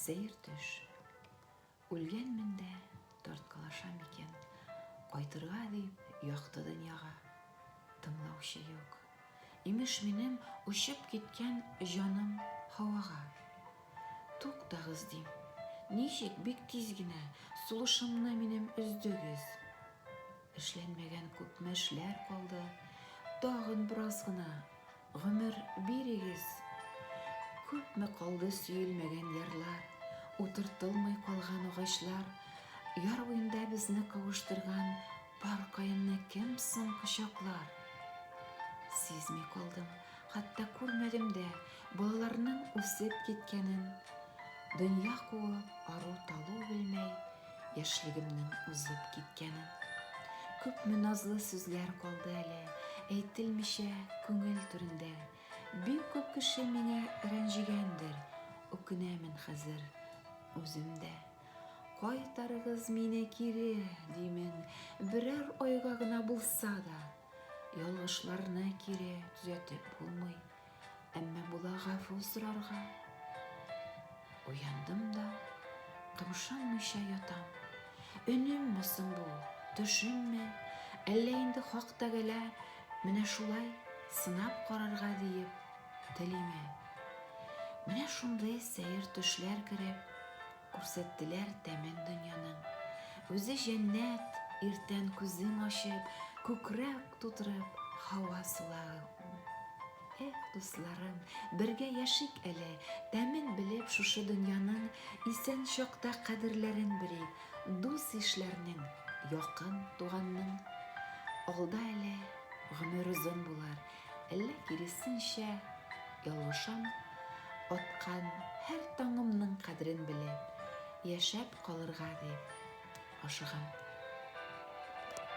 Сәер төш. Үлгәнмен дә, тарткалашам икән. Кайтырга дип, якты дөньяга. Тыңлаучы юк. Имеш минем очып киткән җаным һавага. Туктагыз дим. Ничек бик тиз генә сулышымны минем өздегез. Эшләнмәгән күпме эшләр калды. Тагын бераз гына Гомер бирегез! Күпме калды сөелмәгән ярлар, Утыртылмый калган агачлар, Яр буенда безне кавыштырган Пар каенны кем соң кочаклар? Сизми калдым, хәтта күрмәдем дә Балаларның үсеп киткәнен. Дөнья куып, ару-талу белмәй, яшьлегемнең узып киткәнен. Күпме назлы сүзләр калды әле, әйтелмичә күңел түрендә. Бик күп кеше мине рәнҗегәндер, үкенәмен хәзер үзем дә. Кайтарыгыз мине кире, димен, берәр айга гына булса да. Ялгышларны кире төзәтеп булмый. Әмма була гафу сорарга. Уяндым да, томшанмыйча ятам. Өнемме соң бу, төшемме? Әллә инде хак тәгәлә менә шулай сынап карарга диеп телиме? Менә шундый сәер төшләр кереп, Күрсәттеләр тәмен дөньяның. Үзе җәннәт, иртән күзең ачып, күкрәк тутырып, һава сулагы ул. Эх, дусларым, бергә яшик әле, тәмен белеп шушы дөньяның, исән чакта кадерләрен белик, дус-ишләрнең, якын туганның. Алда әле гомер озын булыр, Әллә киресенчә, ялгышам, аткан һәр таңымның кадерен белеп, яшәп калырга дип ашыгам.